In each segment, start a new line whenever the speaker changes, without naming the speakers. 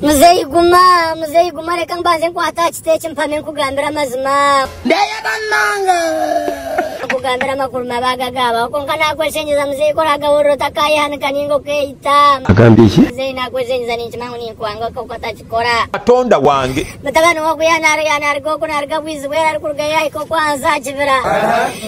Muzeeyi guma,
muzeeyi guma reka mbanze nkwate aha kiti eki mpame nkugambire amazima. Ndeyega
munonga.
Nkugambire amakuru mabi agagaabaho kwonka naakweshengyeza muzeeyi ku oraagahurira otakaayehanika nainga okeeyita. Agambye ki? Muzeeyi
naakweshengyeza
ninkimanya ngu ninkwanga kwonka otakikora. Katonda wange.
Mutabani we oku
yaanaaruga oku naaruga bwizi bw'eira arikurugayo yaahika okwo ahansi aha kibira.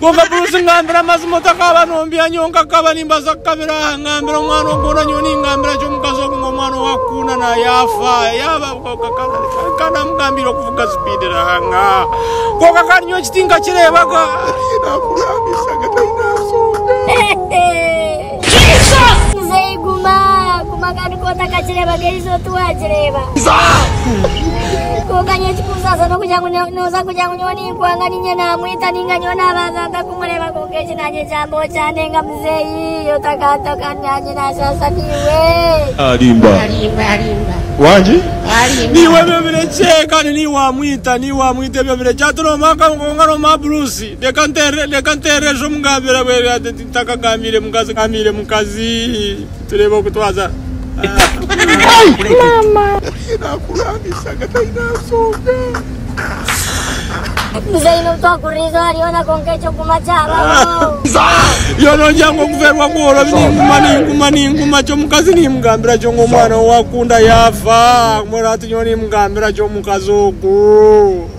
Kwonka Bruce ngambira amazima otakaba nombya nyowe nkakaba nimbaza kukabira aha ngambira omwana ogona nyowe ningambira ki omukazi ogu ngu omwana owakukunda na yafa yaba nkamugambiire okuvuga speed nanga kwonka kandi nyowe ekiti nkakirebaga namurabishaga tainasonga Muzeeyi
guma guma kandi ku otakakirebaga eizi oti wakireba kwonka nyowe ekikunsasa nokugira ngu noza kugira ngu nyowe ni Kubanga niinye naamwita nainga nyowe naabanza nta kumureeba kwonka eki naanyegyamba okyandenga
muzeeyi otakanta kandi naanye naashaasha niiwe. Arimba. Arimba
arimba. Wangi? Arimba. Niiwe ebyo birekye kandi niiwe waamwita niiwe waamwita ebyo birekye hati nooma kwonka nooma buruusi reka nteerere reka nteerere sha omugambira bwere hati nti ntakagambiire mukazi ngambiire mukazi. Tureeba oku twaza. Muzeeyi n'obu twakuriira eizooba ryona kwonka
eky'okuguma kyabaho.
Yo nogira ngu okuferwa kworo bi ninguma ninguma ninguma ki omukazi nimugambira ki ngu omwana ou akunda yaafa mbwenu hati nyowe nimugambira ki omukazi ogu.